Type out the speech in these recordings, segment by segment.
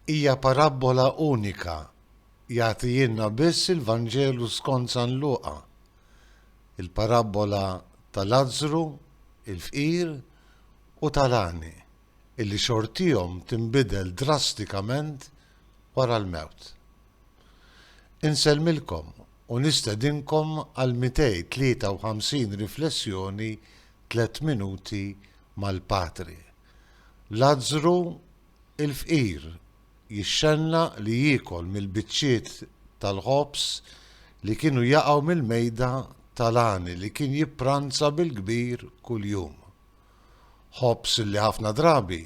Hija parabbola unika, jagħtihilna biss il-Vanġelu skont San Luqa, il-parabbola ta' Lazzru, il-fqir, u ta' l-għani, illi xortihom tinbidel drastikament wara l-mewt. Insellmilkom u nistedinkom għall-253 riflessjoni tliet minuti mal-Patri. Lazzru l-fqir jixxennaq li jiekol mill-biċċiet tal-ħobż li kienu jaqgħu mill-mejda tal-għani li kien jippranza bil-kbir kuljum. Ħobż li ħafna drabi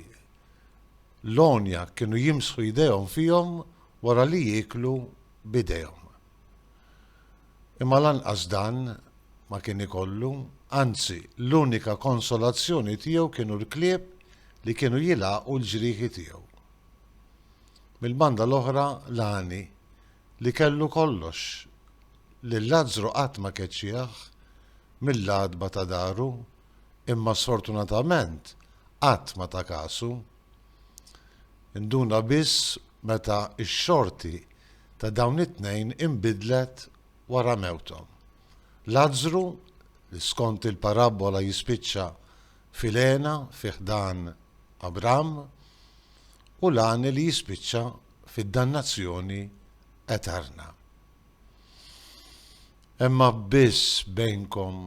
l-għonja kienu jimsħu jdejhom fihom wara li jieklu b'idejhom. Imma lanqas dan ma kien ikollu, anzi, l-unika konsolazzjoni tiegħu kienu l-klieb li kienu jilgħaqu l-ġrieħi tiegħu. Mill-banda l-oħra Lani, li kellu kollox, lil Lazzru qatt ma keċċieh mill-għatba ta' daru, imma sfortunatament qatt ma ta kasu. Induna biss meta x-xorti ta' dawn it-tnejn inbidlet wara mewthom. Lazzru, li skont il-parabbola jispiċċa fil-hena fi ħdan Abramm, u l-għani li jispiċċa fid-dannazzjoni eterna. Hemm abbiss bejnkom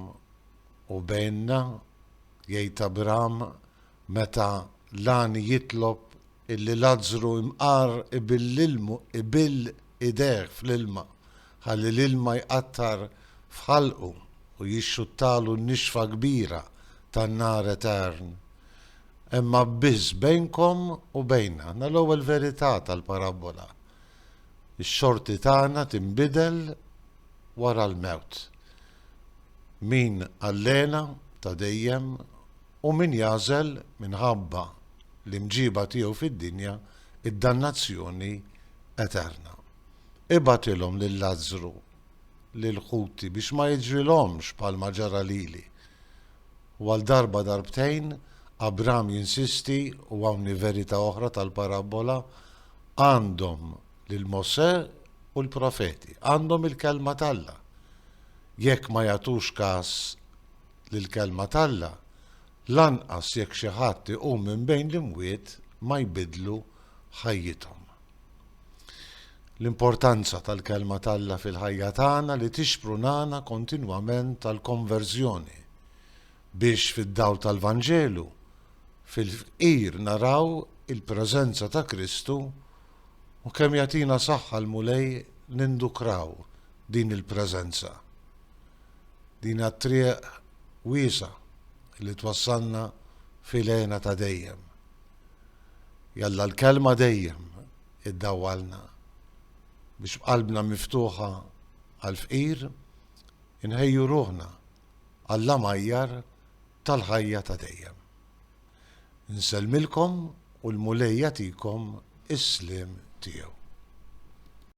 u bejnna, jgħid Abramm, Meta l-għani jitlob illi Lazzru imqar ibill idejh fl-ilma ħalli l-ilma jqattar f'ħalqu u jixxuttalu n-nixfa kbira tan-nar etern, hemm abbiss bejnkom u bejna. Aħna l-ewwel verità tal-parabbola. Ix-xorti tagħna tinbidel wara l-mewt. Min Allena ta' dejjem Hu min jagħżel minħabba l-imġiba tiegħu fid-dinja d-dannazzjoni eterna. Ibgħatilhom lil Lazzru lil ħuti biex ma jiġrilhomx bħalma ġara lili. U għal darba darbtejn Abram jinsisti u hawn hi verità oħra tal-parabbola, għandhom lil Mosè u l-profeti, għandhom il-kelma t'Alla. Jekk ma jagħtux kas li l-Kelma t'Alla, lanqas jekk xi ħadd iqum minn bejn l-imwiet, ma jbiddlu ħajjithom. L-importanza tal-Kelma t'Alla fil-ħajja tagħna li tixprunana kontinwament għall-konverżjoni, biex fid-dawl tal-Vanġelu, fil-fqir naraw il-preżenza ta' Kristu u kemm jagħtina saħħa l-Mulej nindukraw din il-preżenza. Din hija t-triq wiesgħa li twassalna f'ilgħena ta' dejjem. Jalla l-Kelma dejjem iddawwalna biex b'qalbna miftuħa għall-fqir inħejju ruħna għall-għamajjar tal-ħajja ta' dejjem. Insellmilkom u l-Mulej jagħtikom is-sliem tiegħu.